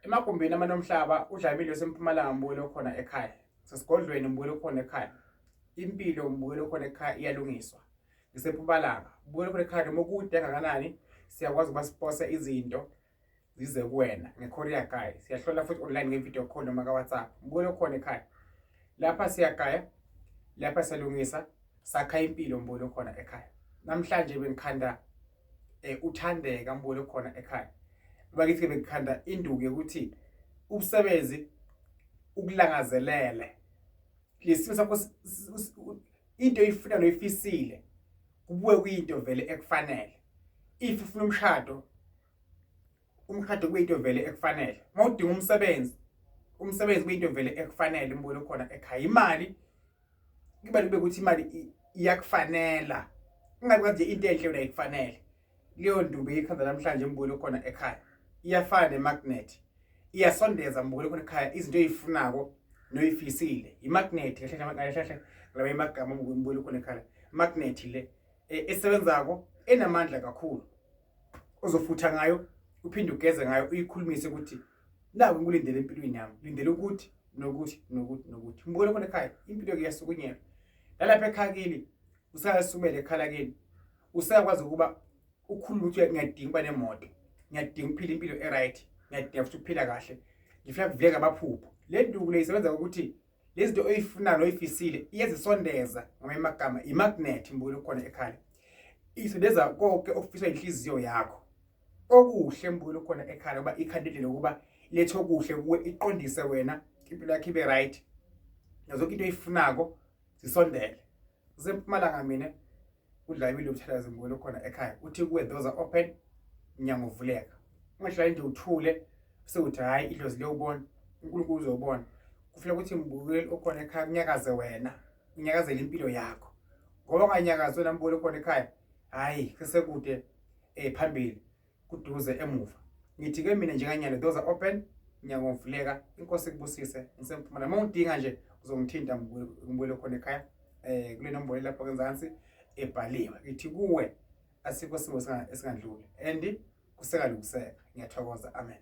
Emagumbini amanomhlaba uDlamini osempumalanga ngibukele okhona ekhaya. Sesigodlweni ngibukele okhona ekhaya. Impilo ngibukele okhona ekhaya iyalungiswa. Ngisempumalanga ngibukele okhona ekhaya noma kude kangakanani siyakwazi ukuba sipose izinto zize kuwena ngeKorea Guy. Siyahlola futhi online ngevideo call noma kaWhatsApp. Ngibukele okhona ekhaya. Lapha siyagaya, lapha siyalungisa, sakha impilo ngibukele okhona ekhaya. Namhlanje bengikhanda eh uthandeka mbone khona ekhaya bakithi ke bekukhanda induku yokuthi ubusebenzi ukulangazelele lesimo sakho into oyifuna noyifisile kubuye kuyinto vele ekufanele if ufuna umshado umshado kuyinto vele ekufanele uma udinga umsebenzi umsebenzi kuyinto vele ekufanele umbulo khona ekhaya imali kuba kube ukuthi imali iyakufanela ingabe kanje into enhle yona ikufanele leyo ndumbe ikhanda namhlanje umbulo khona ekhaya iyafana nemagnet iyasondeza umbulo khona ekhaya izinto ezifunako noyifisile imagnet kahle kahle kahle laba imagama umbulo khona ekhaya magnet le e, esebenzako enamandla kakhulu ozofutha ngayo uphinde ugeze ngayo uyikhulumise ukuthi naku ngikulindele empilweni yami lindele ukuthi nokuthi nokuthi nokuthi mbukele khona ekhaya impilo ke yasukunyela nalapha ekhaya kini usayasumela ekhala kini usayakwazi ukuba ukhulume ukuthi ngiyadinga ukuba nemoto ngiyadinga ukuphila impilo e-right ngiyadinga futhi ukuphila kahle ngifuna kuvuleka amaphupho le nduku le isebenza ngokuthi lezi zinto oyifunayo oyifisile iyazisondeza ngamanye amagama imagnet mbukelo khona ekhaya isondeza konke okufiswa inhliziyo yakho okuhle mbukelo khona ekhaya uba ikhandile lokuba lethe okuhle kuwe iqondise wena impilo yakho ibe right nazo into oyifunako zisondele kusempumalanga mina udlawile umthalazi ngibuyele khona ekhaya uthi kuwe those are open mnyango uvuleka ungahlali nje uthule sewuthi hhayi idlozi liyowubona unkulunkulu uzowubona kufuneka ukuthi mbukeli okhona ekhaya kunyakaze wena unyakazele impilo yakho ngoba unganyakazi wena mbukeli okhona ekhaya hhayi sesekude um phambili kuduze emuva ngithi ke mina njenganyalo those are open nyango ngivuleka inkosi kubusise ngisemphumela uma ungidinga nje uzongithinta ngibuyele khona ekhaya um kule nombolo lapho kenzansi ebhaliwe ngithi kuwe asikho simo esingandluli and kusekalungiseka ngiyathokoza amen